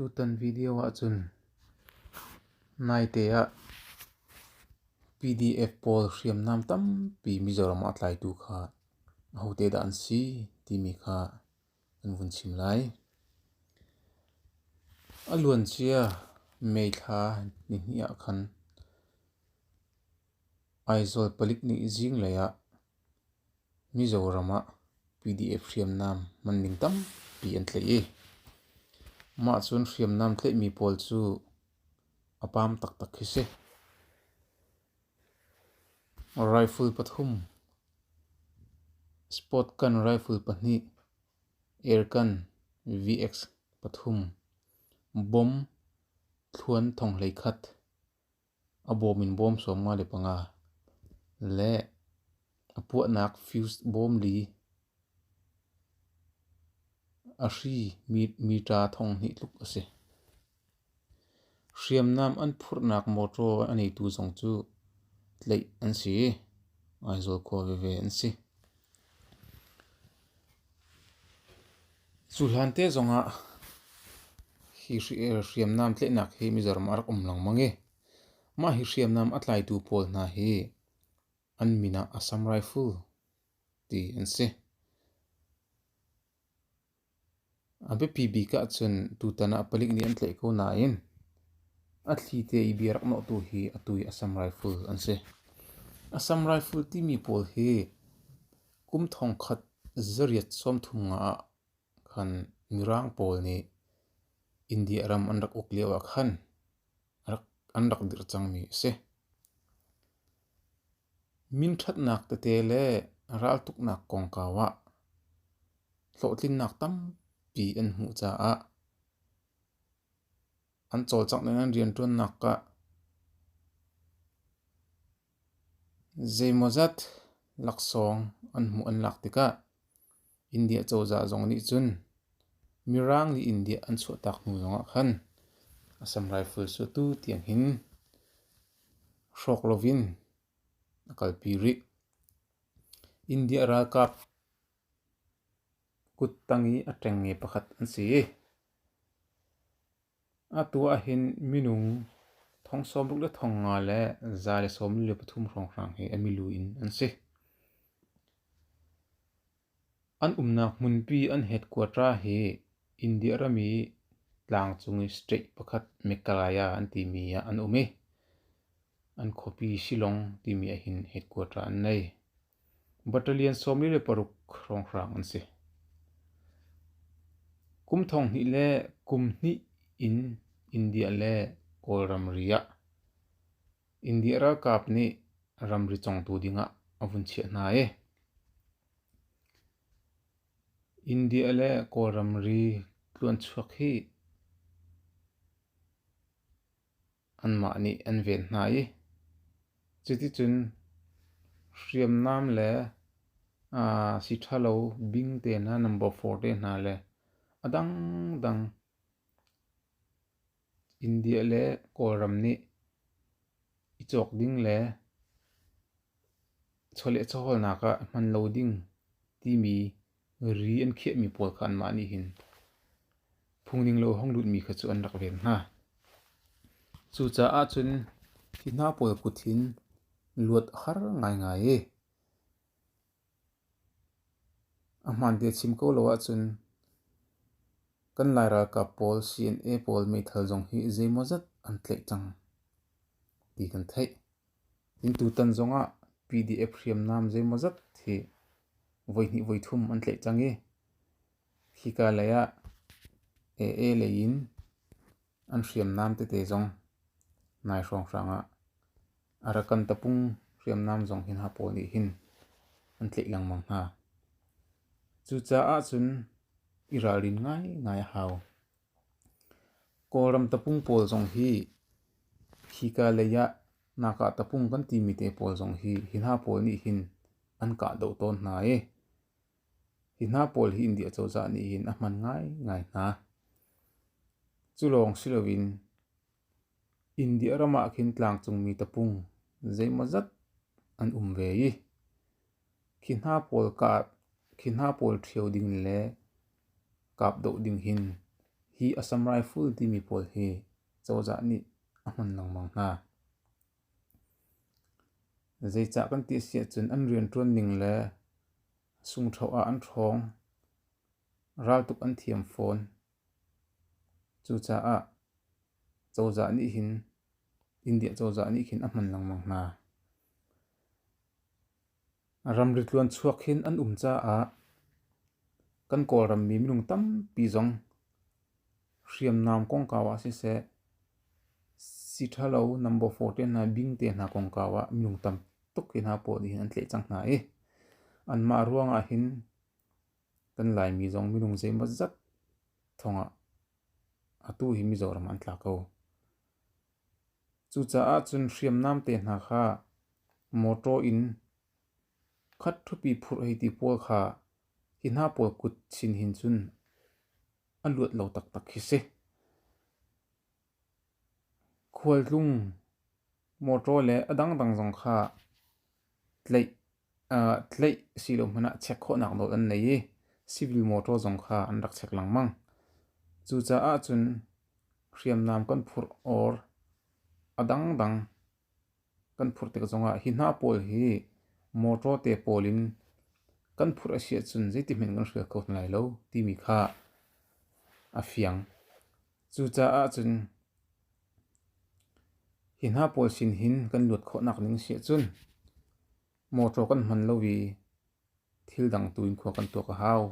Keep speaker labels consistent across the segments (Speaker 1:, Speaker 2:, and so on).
Speaker 1: Tutan video ahcun naite ah PDF pawl hriamnam tampi Mizoram ah tlaitu kha ahote dah an si timi kha an vun chim lai. A luancia May thla nihnih ah khan Aizawl palik nih zinglei ah Mizoram ah PDF hriamnam hmanning tampi an tleih i mah cun hriamnam tleihmi pawl cu a pam taktak hi si. Rifle pathum, sport gun rifle pahnih, air gun VX pathum, bomb thluan thong hlei khat. A bawm in bawm sawm nga le panga, le a puahnak fuse bawm li, a hri metre thonghnih tluk a si. Hriamnam an phurhnak motor a neitu zong cu tleih an si i, Aizawl khua veve an si. Cu hlante zongah hi hriamnam tlaihnak hi mizaram ah rak um lengmang i mah hi hriamnam a tlaitu pawl hna hi an min ah Assam Rifle ti an si. A biapi bik ahcun tutan ah palik nih an tlaih ko nain a thli te i bia rak nawh tu hi a tu i Assam Rifle an si. Assam Rifle timi pawl hi kum thongkhat zarriat sawmthum nga ah khan mirang pawl nih India ram an rak uk lio ah khan an rak dirh cangmi a si. Minṭhatnak tete le raltuknak kongkau ah hlawhtlinnak tampi an hmuh caah an cawlcangh ning an rianṭuannak ah Zeimawzat laksawng an hmuh an lak tikah India cozah zong nih cun Mirang nih India an chuahtak hnu zongah khan Assam Rifles cu tu tiang hin hrawk loin a kalpi rih. India ralkap kuttang i a ṭengnge pakhat an si i Atu ahhin minung thong sawmruk le thong nga le za le sawm li le pathum hrawnghrang he a milu in an si. An umnak hmunpi an het kuatra hi India ram i tlangcung i state pakhat Meghalaya an timi ah an um i an khuapi Shillong timi ahhin headquarter an ngei. Battalion sawm li le paruk hrawnghrang an si. Kum thong hnih le kum hnih in India le Kawl ramri ah India ralkap nih ramri congtu ding ah a vun chiah hna i India le Kawl ramri tluanchuak hi anmah nih an ven hna i cuticun hriamnam le si ṭha lo bing te hna, number four te hna le a dangdang India le Kawlram nih i cawk ding le chawlehchawhawlnak ah hman lo ding timi Ri an khiahmi pawl kha anmah nih hin phungning lo hong lutmi kha cu an rak ven hna. Cucaah cun hi hna pawl kut hin luat a har ngaingai i a hmaante a chim ko lo ahcun kan Lai ralkap pawl CNA pawl meithal zong hi zeimaw zat an tlaih cang ti kan theih. Inn tutan zongah PDF hriamnam zeimawzat hi voihnih voithum an tlaih cang i hika lei ah AA lei in an hriamnam tete zong nai hrawnghrang ah Arakan tapung hriamnam zong hin hapaw nih hin an tlaih lengmang hna. Cucaah cun i ralrin ngaingai a hau. Kawlram tapung pawl zong hi hika lei ah Naka tapung kan timi te pawl zong hi hi hna pawl nih hin an kahdoh tawn hna i hi hna pawl hi India cozah nih hin a hman ngaingai hna. Culawng si loin India ram ah khin tlangcungmi tapung zeimawzat an um ve i khi hna pawl kah, khi hna pawl ṭhio ding le Kap dawh ding hin hi a sam raiful timi pawl hi cozah nih a hman lengmang hna. Zeicah kan ti a si ahcun an rianṭuan ning le sungṭho ah an ṭhawng. Raltuk an thiam fawn. Cucaah cozah nih hin, India cozah nih hin a hman lengmang hna. Ramri tluanchuak hin an um caah kan Kawlrammi minung tampi zong hriamnam kongkau ah siseh, si ṭha lo nam baw fawr te hna, bing te hna kongkau ah minung tam tuk hi hna pawl nihin an tleh cang hna i anmah ruangah hin kan Laimi zong minung zeimaw zat thawngah atu hi Mizoram an tla ko. Cucaah cun hriamnam te hna kha mawṭaw in khat ṭhupi phurh hei ti pawl kha hi hna pawl kut chin hin cun a luat lo taktak khi si. Khualtlung mawṭaw le a dangdang zong kha tlaih Tleih si lo hmanh ah check khawhnak nawl an nei i civil motor zong kha an rak check lengmang. Cucaah cun hriamnam kan phurh or a dangdang kan phurh tik zongah hi hna pawl hi motor te pawl in kan phurh a si ahcun zeitihmanh kan hrial kho hna lai lo timi kha a fiang. Cucaah cun Hi hna pawl sin hin kan luat khawhnak ding a si ahcun mawṭaw kan hman lo i thil dang tu in khua kan tuak a hau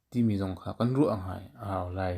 Speaker 1: timi zong kha kan ruah ngai a hau lai.